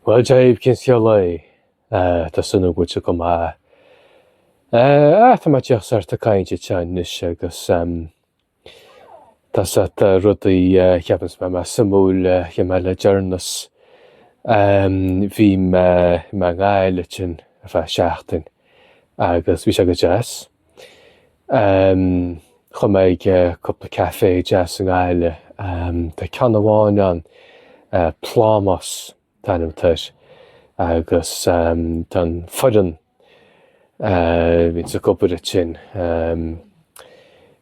Bhuel, Dia dhaoibh, cén scéal é? Ah, tá súil a'm go bhfuil sibh go maith. Eh, ah, tá mé díreach sórt ag caint anseo anois agus, ehm, tá sórt rudaí, eh, a cheapanns mé, más suimiúil, eh, a dhéan mé le deireanas. Ehm, bhí mé i nGaillimh ansin ar feadh seachtain agus bhí sé go deas. Chuaigh mé ag cúpla café deas i nGaillimh, tá ceann amháin ann, Plámás an t-ainm atá air, agus tá an foireann a bhíonns ag obair ansin,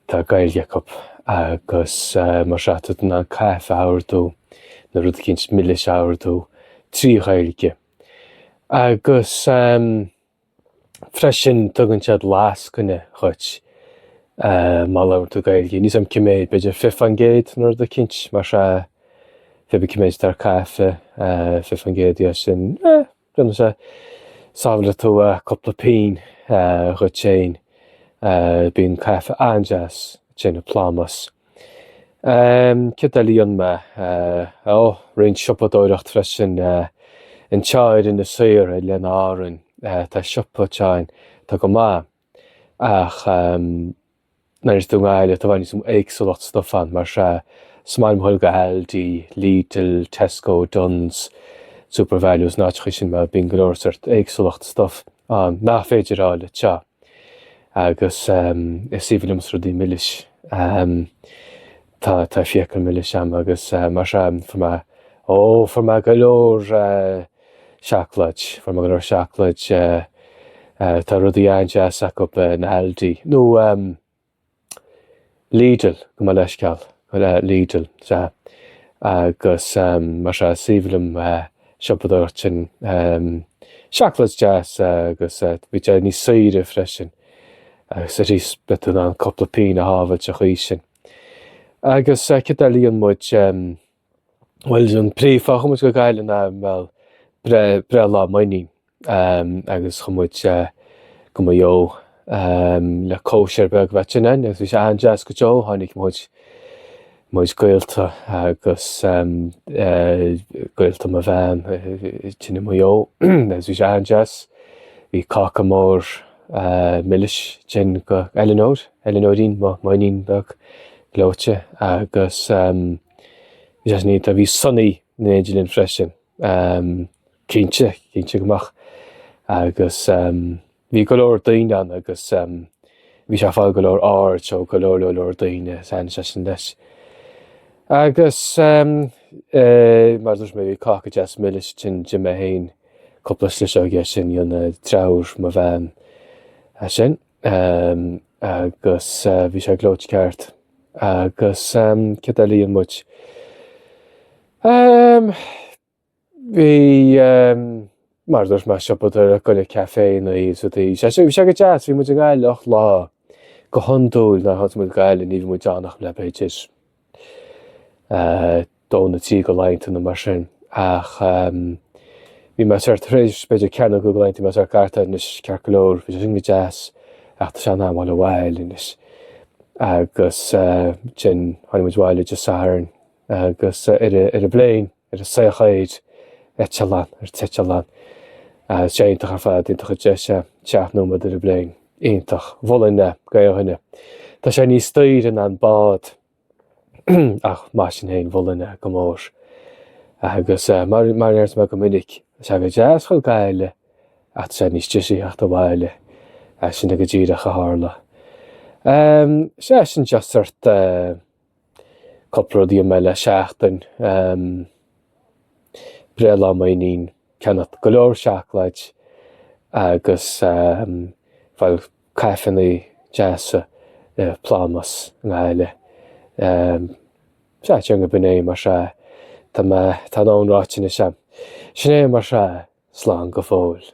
tá Gaeilge acu agus mar seo tá tú in ann caife a ordú nó rud eicínt milis a ordú trí Ghaeilge. Agus. Freisin, tugann siad lascaine dhuit má labhrann tú Gaeilge. Níl a fhios a'm cé méad, b'fhéidir fiche faoin gcéad nó rud eicínt mar sea. Pé bí cé méad atá ar caife, fiche faoin gcéad dhe sin, you know, so sábhálfaidh tú cúpla pingin dhuit féin. Bíonn caife an-deas ansin i Plámás. Céard eile a dhéan mé? Ó, roinnt siopadóireacht freisin. Anseo ar Inis Oírr, Oileáin Árann, tá siopa anseo atá go maith, ach nuair atá tú i nGaillimh tá i bhfad níos mó éagsúlacht stuif ann, mar sea, is maith liom a dhul go Aldi, Lidl, Tesco, Dunnes, Supervalu, is na háiteachaí sin mar bíonn go leor sórt éagsúlacht stuif ann nach féidir a fháil anseo. Agus is aoibhinn liomsa rudaí milis. Tá fiacail milis a'm agus mar seo, fuair mé, ó, fuair mé go leor seacláid, fuair mé go leor seacláid, tá rudaí an-deas acub in Aldi, nó, Lidl, gabh mo leithscéal, Lidl, sea, agus mar sea, is aoibhinn liom siopadóireacht ansin, seacláid deas agus bhí sé níos saoire freisin agus arís beidh tú in ann cúpla pingin a shábháilt an chaoi sin agus céard eile a dhéan muid? Bhuel, an príomhfháth a chuaigh muid go Gaillimh ná bhuel, breithlá m'inín agus chuaigh muid go Maigh Eo le cóisir beag a bheith ansin ann agus bhí sé an-deas go deo, tháinig mo chuid gaolta agus gaolta mo bhean ansin i Maigh Eo agus bhí sé an-deas. Bhí cáca mór milis ansin go Eileanóir, Eileanóirín, mo mhaoinín beag gleoite agus Bhí sé deas ar ndóigh bhí Sonny in éindí linn freisin. Cinnte, cinnte go mbeadh. Agus bhí go leor daoine ann agus bhí sé ag fáil go leor aird ó go leor leor daoine is thaitin sé sin leis. Agus mar a dúirt mé bhí cáca deas milis ansin d'ith mé féin cúpla sliseog de sin rinne deirfiúr mo bhean é sin. Ehm, agus eh, bhí sé gleoite ceart. Agus ehm, céard eile a rinne muid? Ehm, bhí, ehm, mar a dúirt mé ag siopadóireacht ag goil ag caiféannaí, so bhí sé- bhí sé go deas, bhí muid i nGaillimh ocht lá. Go hondúil nuair a théanns muid go Gaillimh, ní bhíonn muid ann ach lá b'fhéidir. dó nó trí de laethanta nó mar sin ach bhí mé sórt tar éis b'fhéidir ceathair nó cúig de laethanta bhí mé sórt ceart anois ceart go leor bhí sé sin go deas ach tá sé in am a ghoil abhaile anois agus sin tháinig muid abhaile Dé Sathairn agus ar an ar an bpléin ar an saocháíd eitleán, an t-eitleán, tá sé iontach ar fad, iontach an deis é, seacht nóiméad ar an bpléin, iontach, mholfainn é do chuile dhuine, tá sé níos daoire ná an bád, ach mar sin féin mholfainn é go mór, agus mar, mar a deir mé go minic, tá sé go deas a ghoil go Gaillimh, ach tá sé níos deise a theacht abhaile, sin é go díreach a tharla. Sea, sin just sórt eh. cúpla rud díom eile, seachtain, breithlá m'iníon, ceannacht go leor seacláid agus, bhuel, caiféanna deasa i bPlámás i nGaillimh. Sea, déarfainn gurb in é, muise, tá mé, tá mo dhóthain ráite anois a'm. Sin é, mar sin, slán go fóill.